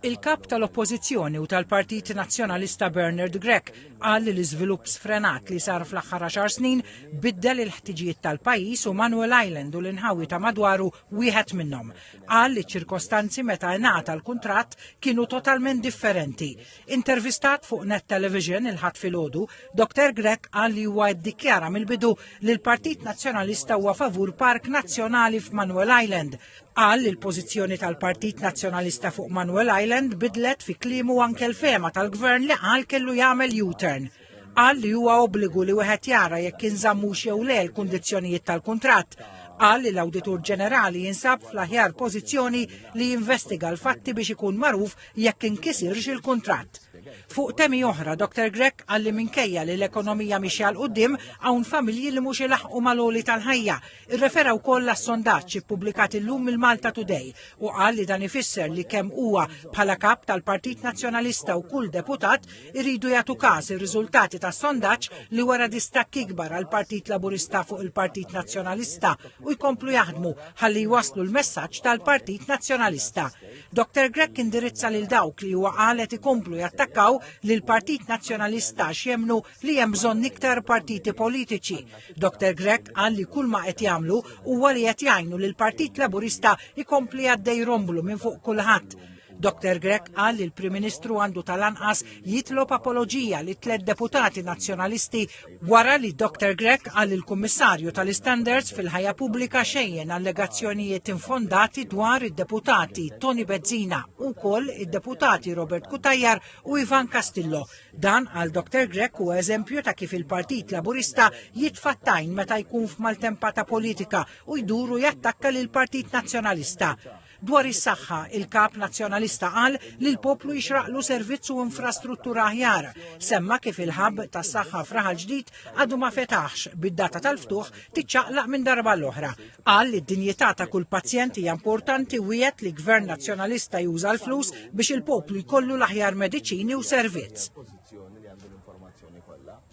Il-Kap tal-Oppożizzjoni u tal-Partit Nazzjonalista Bernard Grech qal li l-iżvilupp sfrenat li sar fl-aħħar għaxar snin biddel il-ħtiġijiet tal-pajjiż u Manuel Island u l-inħawi ta' madwaru wieħed minnhom. Qal li ċ-ċirkostanzi meta ngħata l-kuntratt kienu totalment differenti. Intervistat fuq Net Television il-Ħadd filgħodu, Dr Grech qal li huwa ddikjara mill-bidu li l-Partit Nazzjonalista huwa favur park nazzjonali f'Manuel Island Qal li l-pożizzjoni tal-Partit Nazzjonalista fuq Manuel Island bidlet fi kliemu anke l-fehma tal-Gvern li qal kellu jagħmel U-turn. Qal li huwa obbligu li wieħed jara jekk inżammux jew le l-kundizzjonijiet tal-kuntratt. Qal li l-Awditur Ġenerali jinsab fl-aħjar pożizzjoni li jinvestiga l-fatti biex ikun magħruf jekk inkisirx il-kuntratt. Fuq temi oħra, Dr Grech qal li minkejja li l-ekonomija mixja l quddiem hawn familji li mhux ilaħqu mal-għoli tal-ħajja Irrefera wkoll għas-sondaġġ ippubblikat illum mill-Malta Today u qal li dan ifisser li kemm huwa bħala Kap tal-Partit Nazzjonalista u kull deputat iridu jagħtu każ ir-riżultati tas-sondaġġ li wera distakk ikbar għall-Partit Laburista fuq il-Partit Nazzjonalista u jkomplu jaħdmu ħalli jwasslu l-messaġġ tal-Partit Nazzjonalista. Dr Grech indirizza lil dawk li huwa qal qed ikomplu jattakkaw lill-Partit Nazzjonalista għax jemmnu li hemm bżonn iktar partiti politiċi. Dr. Grech qal li kull ma qed jagħmlu huwa li qed jgħinu li l-Partit Laburista jkompli għaddej romblu minn fuq kulħadd. Dr. Grech qal li l-Prim Ministru għandu tal-anqas jitlob apoloġija li tliet deputati nazzjonalisti wara li Dr. Grech qal li l-Kummissarju tal-Istandards fil-ħajja pubblika xejjen allegazzjonijiet infondati dwar id-deputati Tony Bezzina u koll id-deputati Robert Kutajjar u Ivan Castillo Dan għal Dr Grech huwa eżempju ta' kif il-Partit Laburista jitfa' t-tajn meta jkun f'maltempata politika u jdur u jattakka lill-Partit Nazzjonalista. Dwar is-saħħa, il-Kap Nazzjonalista qal li l-poplu jixraqlu servizz u infrastruttura aħjar. Semma kif il-hub tas-saħħa f'Raħal Ġdid għadu ma fetaħx, bid-data tal-ftuħ tiċċaqlaq minn darba għall-oħra. Qal li d-dinjità ta' kull pazjent hija importanti u wiegħed li Gvern Nazzjonalista juża l-flus biex il-poplu jkollu l-aħjar mediċini u servizz.